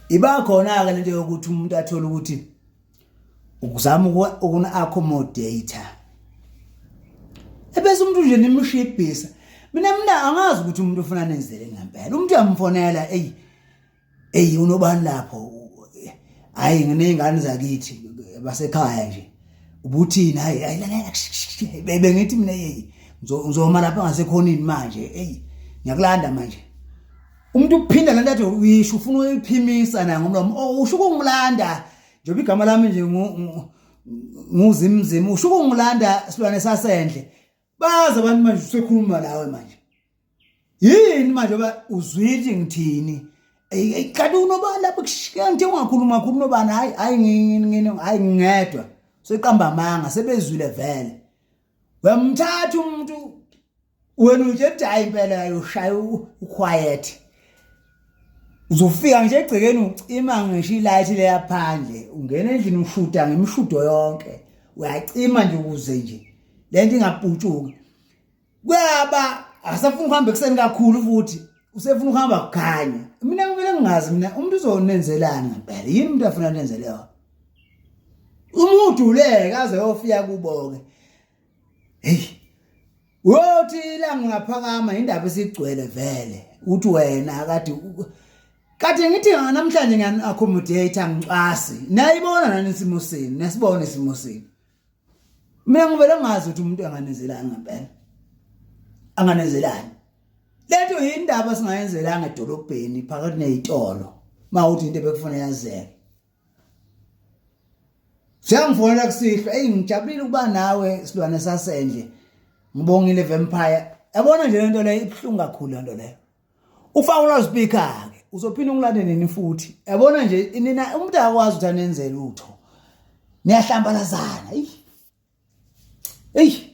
iba khona-ke lento yokuthi umuntu athole ukuthi ukuzama ukuna-accommodate ebese umuntu nje nimshibhisa mina mina angazi ukuthi umuntu ufuna nenzele ngempela umuntu uyamfonela eyi eyi unobani lapho hhayi nginey'ngane zakithi basekhaya nje ubuthini hhayi hayi lalela bengithi mina yeyi ngizoma lapha ngasekhonini manje eyi ngiyakulanda manje umuntu uphinda lento athi uyisho ufuna uyiphimisa na ngomlomo oh, usho ukungilanda njengoba igama lami nje nguzimzima usho ukungilanda silwane sasendle bazi abantu manje usekhuluma lawe manje yini manje ba uzwile ngithini kanti unobani lapho kushiya ngithe ungakhuluma khulu unobani hayi hayi ngini hayi ngingedwa seqamba amanga sebezwile vele wemthatha umuntu wena uthi ethi hayi impela yayoshaya uquiet uzofika nje egcekeni ucima ngisho ilight leya phandle ungena endlini ushuda ngemishudo yonke uyacima nje ukuze nje lento ingaputshuki kuyaba asafuna ukuhamba ekuseni kakhulu futhi usefuna ukuhamba kukhanya mina kumele ngingazi mina umuntu uzonenzelani ngempela yini umuntu afuna nenzele yona umuduleke aze yofika kuboke hey uyothi ilanga ungaphakama indaba isigcwele vele uthi wena akade kade ngithi namhlanje ngani accommodate angicwasi nayibona nani isimo senu nesibona isimo senu mina ngivele ngazi ukuthi umuntu anganezelani ngempela anganezelani lento yindaba singayenzelanga edolobheni phakathi nezitolo mawuthi into ebekufuna yazeke Siyangifonela kusihlwa eyi ngijabulile ukuba nawe silwane sasendle ngibongile vampire yabona nje lento leyo ibuhlungu kakhulu lento leyo ufaka ulazipika ke uzophinda ungilande nini futhi yabona nje nina umuntu akwazi ukuthi anenze lutho niyahlambalazana eyi eyi